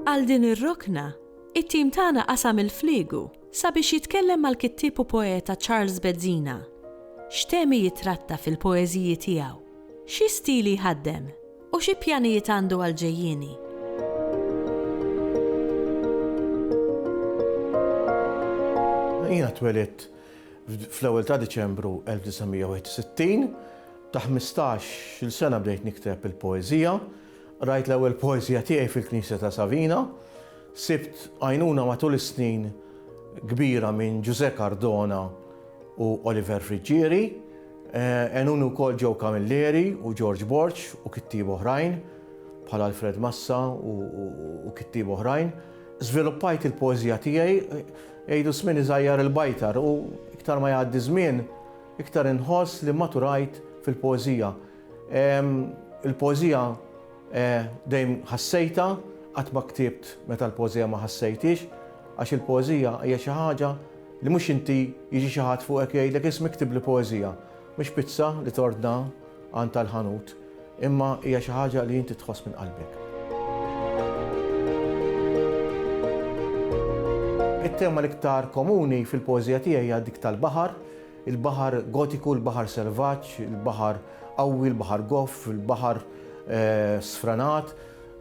Għal din ir-rokna, it-tim tagħna qasam il-fliegu sabiex jitkellem mal-kittieb u poeta Charles Bezzina. X'temi jitratta fil-poeżiji tiegħu? Xi stili jħaddem? U xi pjanijiet għandu għall-ġejjieni? Jiena twelidt fl-ewwel ta' Diċembru 1961. Ta' ħmistax-il sena bdejt nikteb il-poeżija. Qrajt l-ewwel poeżija tiegħi fil-knisja ta' Savina. Sibt għajnuna matul is-snin kbira minn Ġużè Cardona u Oliver Friggieri. Għenuni wkoll Joe Camilleri u George Borg u kittieba oħrajn, bħal Alfred Massa u kittieba oħrajn. Żviluppajt il-poeżija tiegħi, jgħidu żmien iżgħajjar il-bajtar u iktar ma jgħaddi żmien, iktar inħoss li maturajt fil-poeżija. Il-poeżija Eh, dejjem ħassejtha, qatt ma ktibt meta l-poeżija ma ħassejthiex, għax il-poeżija hija xi ħaġa li mhux inti jiġi xi ħadd fuqek jgħidlek isma' iktibli poeżija, mhux pizza li tordna għand tal-ħanut, imma hija xi ħaġa li inti tħoss minn qalbek. It-tema l-iktar komuni fil-poeżija tiegħi hija dik tal-baħar, Il-baħar Gotiku, il-baħar selvaġġ, il-baħar qawwi, il-baħar goff, il-baħar sfranat.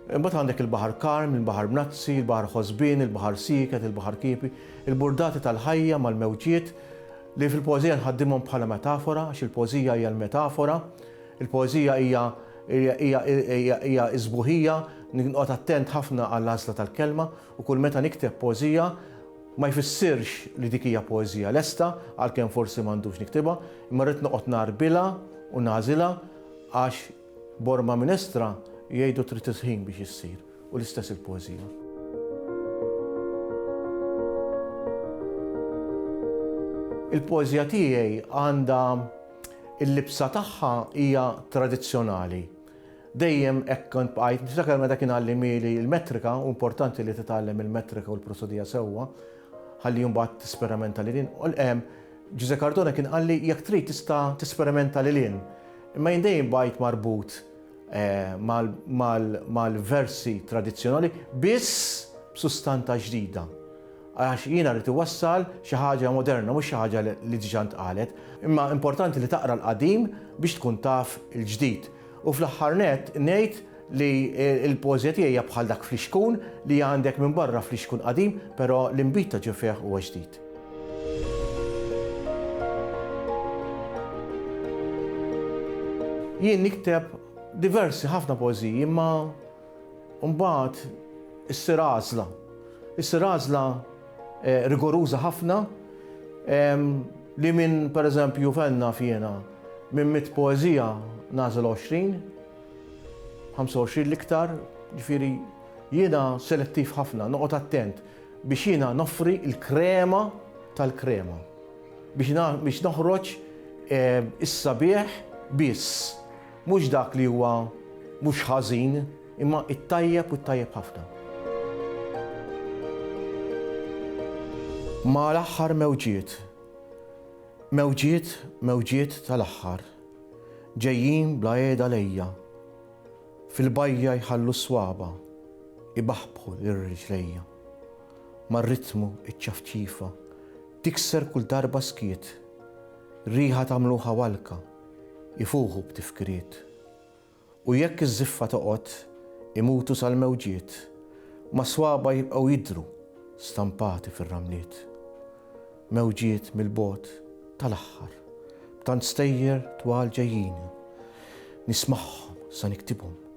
Imbagħad għandek il-baħar karm, il-baħar mnazzi, il-baħar ħosbien, il-baħar sieket, il-baħar kiepi, il-burdati tal-ħajja mal-mewġiet li fil-poeżija nħaddimhom bħala metafora għax il-poeżija hija l-metafora. Il-poeżija hija hija sbuħija, noqgħod attent ħafna għall-għażla tal-kelma u kull meta nikteb poeżija Ma jfissirx li dik hija poeżija lesta, għalkemm forsi m'għandux niktibha, imma rrid noqgħod ngħarbilha u nagħżilha għax b'orma minestra jgħidu trid il-ħin biex issir, u l-istess il-poeżija. Il-poeżija tiegħi għandha il-libsa tagħha hija tradizzjonali, Dejjem hekk kont bqajt. Niftakar meta kien għallimhieli l-metrika, hu importanti li titgħallem il-metrika u l-prosodija sewwa ħalli mbagħad tisperamenta lil hinn. Ġużè Cardone kien qalli jekk trid tista' tisperamenta lil hinn. Imma jien dejjem bqajt marbut mal-versi tradizzjonali biss b'sustanta ġdida. Għax jiena rrid iwassal xi ħaġa moderna mhux xi ħaġa li diġà ntqalet. Imma importanti li taqra l-qadim biex tkun taf il-ġdid. U fl-aħħar nett ngħid li l-poeżija tiegħi hija bħal dak flixkun li għandek minn barra flixkun qadim però l-inbid ta' ġo fih huwa ġdid. Jien nikteb diversi ħafna poeżiji imma U mbagħad issir għażla. Issir għażla rigoruża ħafna li minn pereżempju fejn naf jiena minn mitt poeżija nagħżel 20, 25 l-iktar, ġifieri jiena selettiv ħafna, noqgħod attent biex jiena noffri l-krema tal-krema. Biex noħroġ is-sabiħ biss. Mhux dak li huwa mhux ħażin, imma t-tajjeb u t-tajjeb ħafna. Ma' l-aħħar mewġiet, mewġiet, mewġiet tal-aħħar, ġejjin bla qiegħda lejja, fil-bajja jħallu s-swaba' ibaħbħu lil riġlejja. Mar-ritmu iċ-ċafċifa tikser kull darba skiet, riħa ta' mluħa walka, Ifuħu b'tifkiriet. U jekk iż-żiffa toqgħod, imutu sal-mewġiet, ma' swaba' jibqgħu jidhru stampati fir-ramliet. Mewġiet mill-bogħod, tal-aħħar, b'tant stejjer twal ġejjini, nismagħhom sa niktibhom.